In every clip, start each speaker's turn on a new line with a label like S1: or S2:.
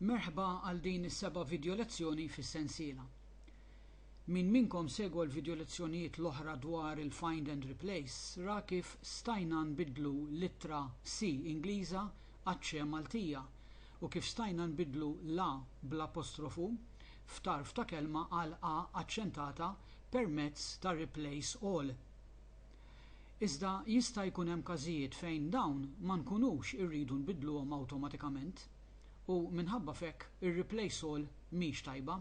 S1: Merħba għal din is-seba' vidjolezzjoni fis-sensiela. Min minnkom segwa l-vidjolezzjonijiet l-oħra dwar il-find and replace ra kif stajna nbiddlu l-ittra C Ingliża għaċ-ċe Maltija u kif stajna nbiddlu l-a bl-apostrofu f'tarf ta' kelma għal a aċċentata permezz ta' replace all. Iżda jista' jkun hemm każijiet fejn dawn ma nkunux irridu nbiddluhom awtomatikament u minħabba f'hekk ir-replace all mhix tajba.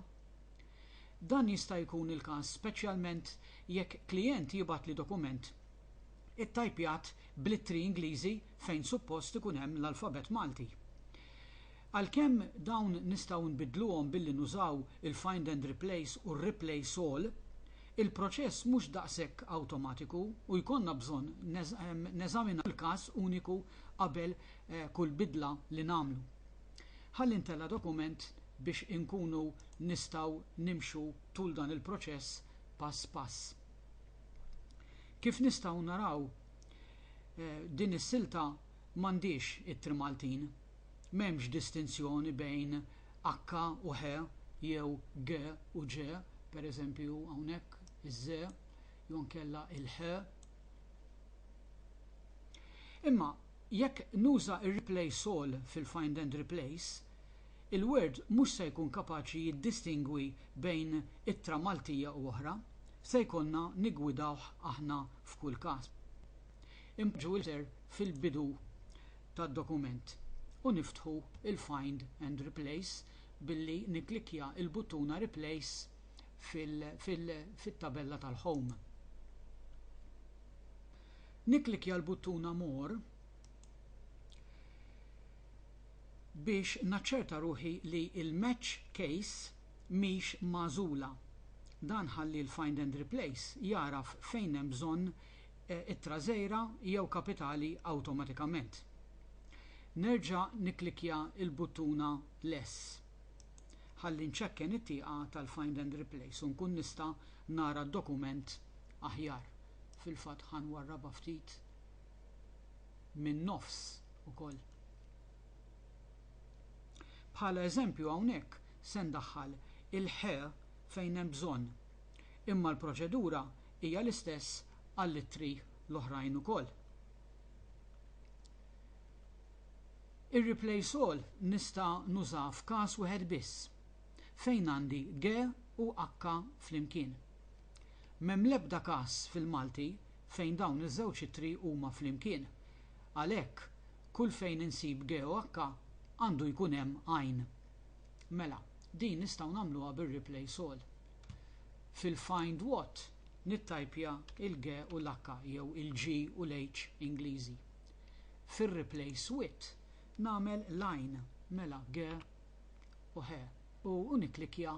S1: Dan jista' jkun il-każ speċjalment jekk klijent jibgħatli dokument ittajpjat bl-ittri Ingliżi fejn suppost ikun hemm l-alfabett Malti. Għalkemm dawn nistgħu nbiddluhom billi nużaw il-find and replace u r-replace all, il-proċess mhux daqshekk awtomatiku u jkollna bżonn neżaminaw kull każ uniku qabel kull bidla li nagħmlu. Ħalli ntella' dokument biex inkunu nistgħu nimxu tul dan il-proċess pass pass. Kif nistgħu naraw, din is-silta m'għandhiex it-trimaltin. M'hemmx distinzjoni bejn akka u he jew ge u ġe, pereżempju hawnhekk iż-ze jew inkella il-he. Imma jekk nuża r-replace all fil-find and replace, il-Word mhux se jkun kapaċi jiddistingwi bejn ittra Maltija u oħra, se jkollna niggwidawh aħna f'kull każ. Impoġġu l-itr fil-bidu tad-dokument u niftħu l-Find and Replace billi nikklikkja l-buttuna Replace fit-tabella tal-Home. Nikklikkja l-buttuna More biex naċċerta ruħi li l-Match Case mhix magħżula. Dan ħalli l-Find and Replace jagħraf fejn hemm bżonn it-trażejra jew kapitali awtomatikament. Nerġa' nikklikkja l-buttuna Less ħalli nċekken it-tieqa tal-Find and Replace u nkun nista' nara d-dokument aħjar. Fil-fatt ħa nwarrabha ftit min-nofs ukoll. Bħala eżempju hawnhekk se ndaħħal il-ħ fejn hemm bżonn, imma l-proċedura hija l-istess għall-ittri l-oħrajn ukoll. Ir-replace all nista' nuża f'każ wieħed biss, fejn għandi ge u acca flimkien. M'hemm l-ebda każ fil-Malti fejn dawn iż-żewġ ittri huma flimkien. Għalhekk, kull fejn insib ge u acca, għandu jkun hemm għajn. Mela, din nistgħu nagħmluha bir-replace all. Fil-Find What nittajpja il-g u l-h jew il-g u l-h Ingliżi. Fir-Replace With nagħmel line mela g u h u nikklikkja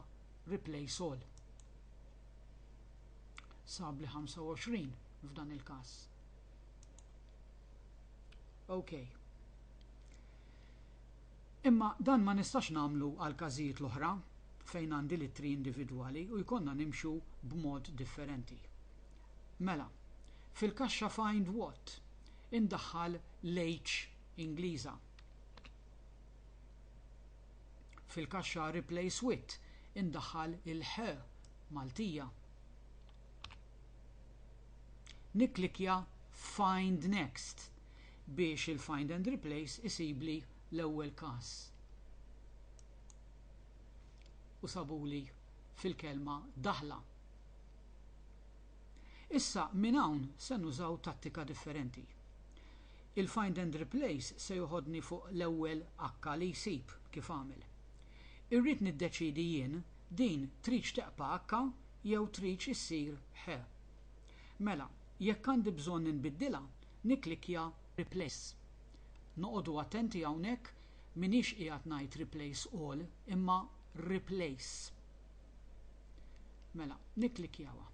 S1: Replace All. Sab li 25 f'dan il-każ. OK. Imma dan ma nistax nagħmlu għall-każijiet l-oħra fejn għandi l-ittri individwali u jkollna nimxu b'mod differenti. Mela, fil-kaxxa Find What, indaħħal l-H Ingliża. Fil-kaxxa Replace With, indaħħal il-H Maltija. Nikklikkja Find Next. biex il-find and replace isibli l-ewwel każ u sabuli fil-kelma daħla. Issa minn hawn se nużaw tattika differenti. Il-find and replace se joħodni fuq l-ewwel akka li jsib kif għamel. Irrid niddeċiedi jien din tridx teqpa' akka jew tridx issir ħe. Mela, jekk għandi bżonn inbiddilha, nikklikkja Replace. Noqogħdu attenti hawnhekk m'iniex qiegħed ngħid Replace All imma Replace. Mela, nikklikkjawha.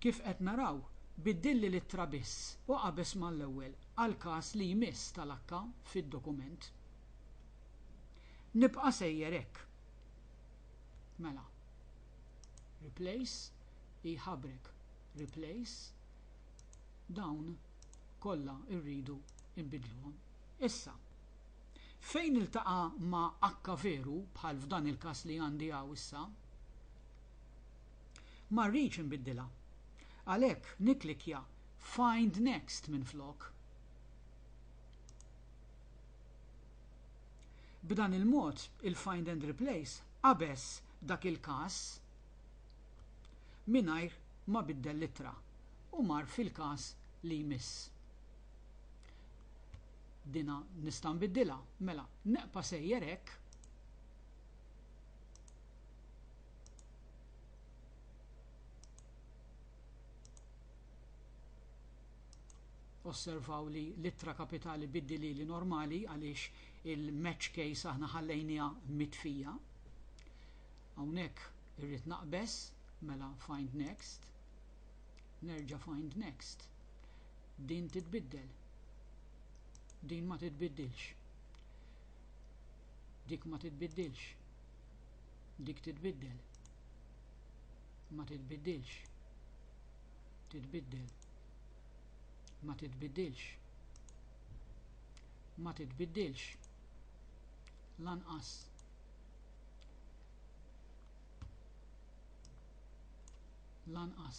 S1: Kif qed naraw, biddilli l-ittra biss u qabeż mal-ewwel għall-każ li jmiss tal-akka fid-dokument. Nibqa' sejjer hekk. Mela, Replace iħabrek. replace, dawn kollha rridu nbiddluhom. Issa, fejn iltaqa' ma' H veru, bħal f'dan il-każ li għandi hawn issa, ma rridx inbiddilha. Għalhekk nikklikkja Find Next minflok. B'dan il-mod, il-Find and Replace qabeż dak il-każ. mingħajr ma biddel l-ittra u mar fil-każ li jmiss. Dina nista' nbiddilha, mela neqpa' sejjer hekk. osservaw li l-ittra kapitali biddili li normali għaliex il-match case aħna ħallejnija mitfija. Hawnhekk irrid naqbeż, mela find next, nerġa' find next. Din titbiddel. Din ma titbiddilx. Dik ma titbiddilx. Dik titbiddel. Ma titbiddilx. Titbiddel. Ma titbiddilx. Ma titbiddilx. Lanqas. lanqas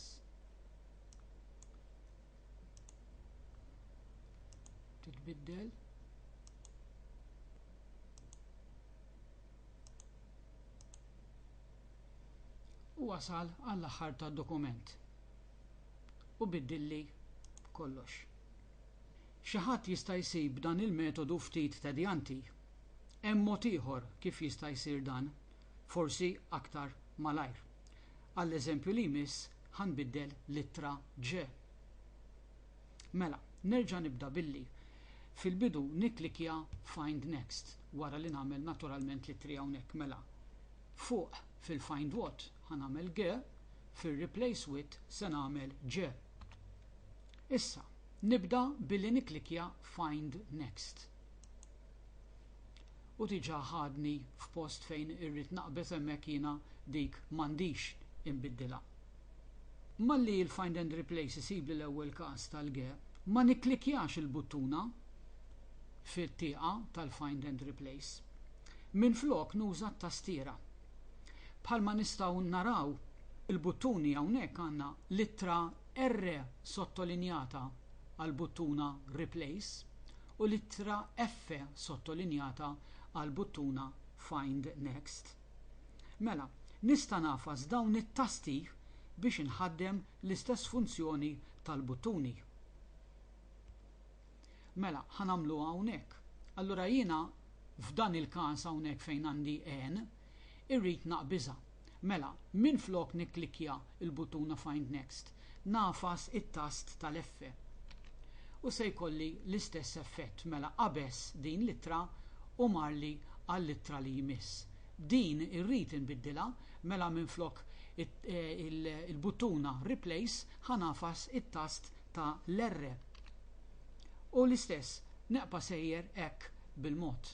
S1: titbiddel u wasal għall-aħħar tad dokument u biddilli kollox. Xi ħadd jista' jsib dan il-metodu ftit tedjanti Hemm mod ieħor kif jista' jsir dan, forsi aktar malajr. Għall-eżempju li jmiss ħa nbiddel l-ittra J. Mela, nerġa' nibda billi fil-bidu nikklikkja Find Next wara li nagħmel naturalment l-ittri hawnhekk. Mela, fuq fil-Find What ħa nagħmel G, fir-Replace With se nagħmel J. Issa, nibda billi nikklikkja Find Next. U diġà ħadni f'post fejn irrid naqbeż hemmhekk jiena dik m'għandix inbiddilha. Malli l-Find and Replace isibli l-ewwel każ tal-ge, ma nikklikkjax il-buttuna fit-tieqa tal-Find and Replace. Minflok nuża t-tastiera. Bħalma nistgħu naraw, il-buttuni hawnhekk għandna l-ittra R sottolinjata għall-buttuna Replace u l-ittra F sottolinjata għall-buttuna Find Next. Mela, nista' ngħafas dawn it-tasti biex inħaddem l-istess funzjoni tal-buttuni. Mela, ħa nagħmluha hawnhekk. Allura jiena f'dan il-każ hawnhekk fejn għandi N, irrid naqbiżha. Mela, minflok nikklikkja l-buttuna Find Next, ngħafas it-tast tal-F. U se jkolli l-istess effett, mela qabeż din l-ittra u marli għall-ittra li jmiss. Din irrid inbiddilha, mela minflok il-buttuna Replace ħa ngħafas it-tast ta' l-R. U l-istess, neqpa' sejjer hekk bil-mod.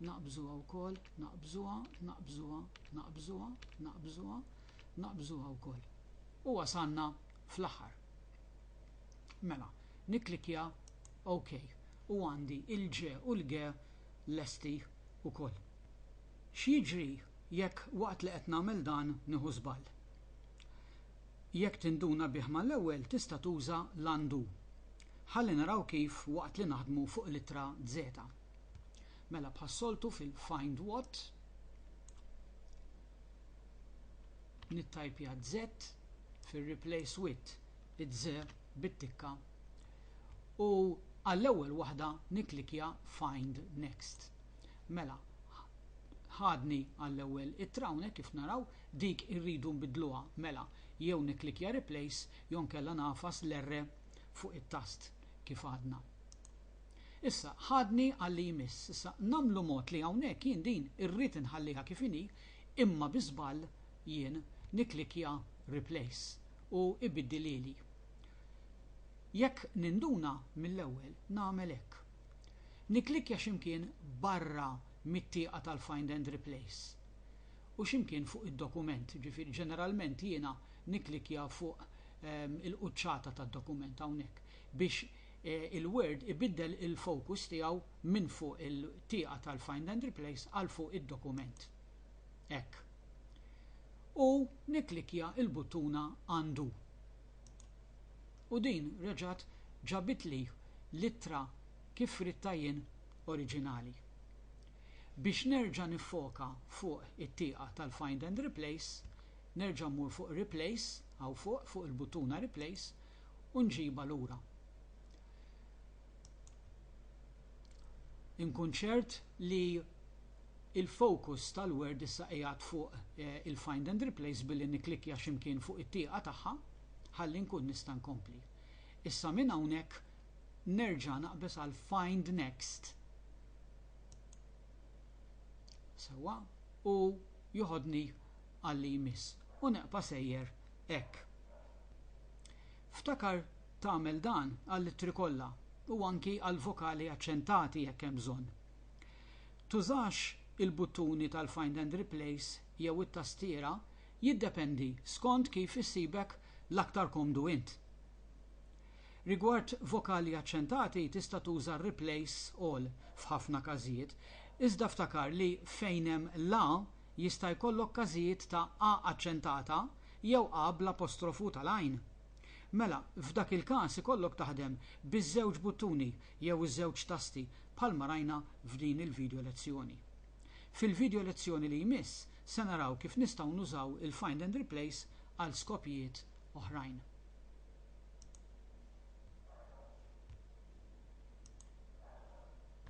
S1: Naqbżuha wkoll, naqbżuha, naqbżuha, naqbżuha, naqbżuha, naqbżuha wkoll. U wasalna fl-aħħar. Mela, nikklikkja OK u għandi il-ġe u l-ge lesti wkoll. X'jiġri jekk waqt li qed nagħmel dan nieħu żball? Jekk tinduna bih mal-ewwel tista' tuża l-undo. Ħalli naraw kif waqt li naħdmu fuq l-ittra Z. Mela bħas-soltu fil-find what nittajpja z fir-replace with iz bit-tikka u għall-ewwel waħda nikklikkja find next. Mela ħadni għall-ewwel ittra hawnhekk kif naraw dik irridu nbiddluha. Mela jew nikklikkja replace jew nkella nagħfas l-R fuq it-tast kif għadna. Issa, ħadni għal-li jmiss. Issa, nagħmlu mod li hawnhekk jien din irrid inħalliha kif inhi, imma bi żball jien nikklikkja Replace u ibiddilhieli. Jekk ninduna mill-ewwel nagħmel hekk. Nikklikkja xi mkien barra mit-tieqa tal-Find and Replace u xi mkien fuq id-dokument, jiġifieri ġeneralment jiena nikklikkja fuq il-quċċata tad-dokument hawnhekk biex il-Word ibiddel il-fokus tiegħu minn fuq il-tieqa tal-Find and Replace għal fuq id-dokument. Hekk. U nikklikkja l-buttuna Undo. U din reġgħet ġabitli l-ittra kif ridtha jien oriġinali. Biex nerġa' niffoka fuq it-tieqa tal-Find and Replace, nerġa' mmur fuq Replace, hawn fuq, fuq il-buttuna Replace, u nġibha lura. Inkun ċert li il-focus tal-word issa qiegħed fuq il-find and replace billi nikklikkja xi mkien fuq it-tieqa tagħha ħalli nkun nista' nkompli. Issa minn hawnhekk nerġa' naqbeż għal find next. Sewwa u joħodni għal li jmiss u neqpa' sejjer hekk. Ftakar tagħmel dan għall-ittri kollha u anki għall-vokali aċċentati jekk hemm bżonn. Tużax il-buttuni tal-Find and Replace jew it-tastiera jiddependi skont kif issibek l-aktar komdu int. Rigward vokali aċċentati tista' tuża r-Replace All f'ħafna każijiet, iżda ftakar li fejn hemm l-a Jista' jkollok każijiet ta' a aċċentata jew a bl-apostrofu tal-għajn. Mela, f'dak il-każ ikollok taħdem biż-żewġ buttuni jew iż-żewġ tasti bħalma rajna f'din il-video lezzjoni. Fil-video lezzjoni li jmiss se naraw kif nistgħu nużaw il-Find and Replace għal skopijiet oħrajn.